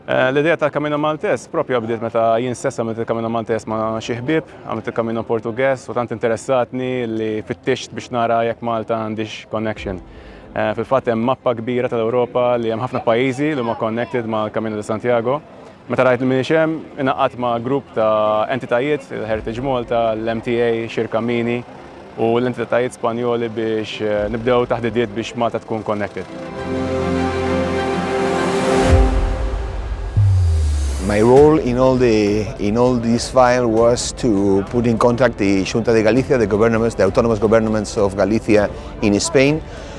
Eh, l-idea ta' Camino Maltes propja bdiet meta jien stessa għamilt il-Camino Maltes ma' xi ħbieb, għamilt il-Camino Portugues u tant interessatni li fittixt biex nara jekk Malta għandix connection. Eh, fil-fatt hemm mappa kbira tal-Ewropa li hemm ħafna pajjiżi li huma connected ma' Camino de Santiago. Meta rajt li m'iniex hemm, ingħaqadt ma' grupp ta' entitajiet, il-Heritage Malta, l-MTA, Xirka Mini u l-entitajiet Spanjoli biex nibdew taħdidiet biex Malta tkun connected. My role in all, the, in all this file was to put in contact the Junta de Galicia, the governments, the autonomous governments of Galicia in Spain,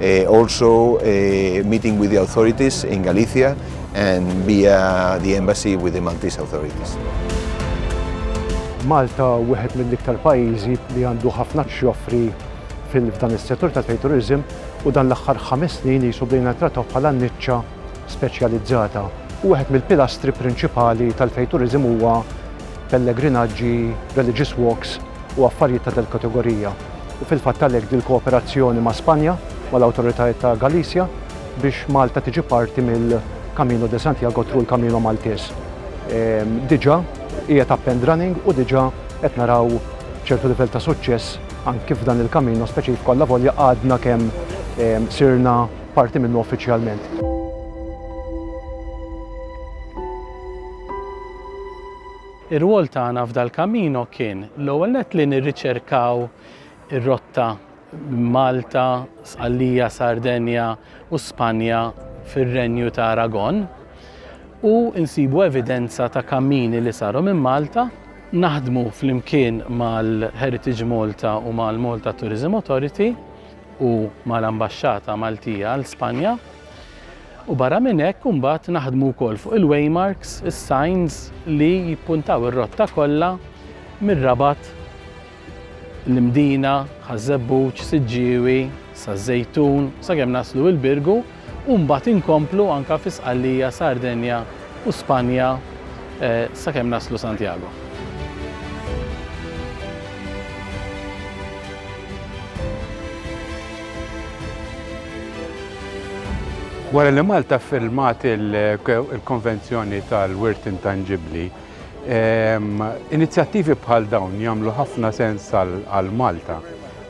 eh, also eh, meeting with the authorities in Galicia and via the embassy with the Maltese authorities. Malta wieħed mill-iktar pajjiżi li għandu ħafna xjoffri fil-dan is-settur ta' turizm u dan l-aħħar ħames snin li jisoblina trattaw bħala niċċa speċjalizzata. U wieħed mill-pilastri prinċipali tal-fejturizm huwa pellegrinaġġi, religious walks u affarjiet ta' dil-kategorija u fil-fatt għalhekk dil-kooperazzjoni ma' Spanja, mal-awtoritajiet ta' Galicia biex Malta tiġi parti mill-Camino de Santiago through il-Camino Maltese diġa' qiegħed up and running u diġa' qed naraw ċertu livell ta' suċċess anki f'dan il-Camino speċifku allavolja għadna kemm sirna parti minnu uffiċjalment. Ir-rwol tagħna f'dal-Camino kien, l-ewwel nett, li nirriċerkaw ir-rotta minn Malta, Sqallija, Sardenja u Spanja fir-Renju ta' Aragon u nsibu evidenza ta' kammini li saru minn Malta, naħdmu flimkien mal-Heritage Malta u mal-Malta Tourism Authority u mal-Ambaxxata Maltija għal Spanja. U barra minn hekk imbagħad naħdmu wkoll fuq il-waymarks, is-signs li jippuntaw ir-rotta kollha mir-Rabat, l-Imdina, Ħaż-Żebbuġ, Siġġiewi, Saż-Żejtun, sakemm naslu il-Birgu u mbagħad inkomplu anke fi Sqallija, Sardenja, u Spanja sakemm naslu Santiago. Wara li Malta ffirmat il-Konvenzjoni tal-Wirt Intanġibbli, ehm, inizjattivi bħal dawn jagħmlu ħafna sens għal Malta,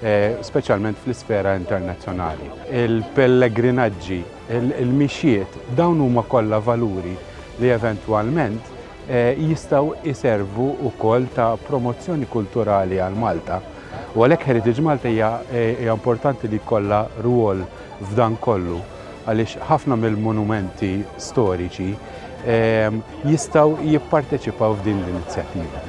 eh, speċjalment fl-isfera internazzjonali. Il-pellegrinaġġi il-mixjiet, dawn huma kollha valuri li eventwalment jistgħu jservu wkoll ta' promozzjoni kulturali għal Malta. U għalhekk Heritage Malta hija importanti li jkollha rwol f'dan kollu għaliex ħafna mill-monumenti storiċi jistgħu jipparteċipaw f'din l-inizjattiva.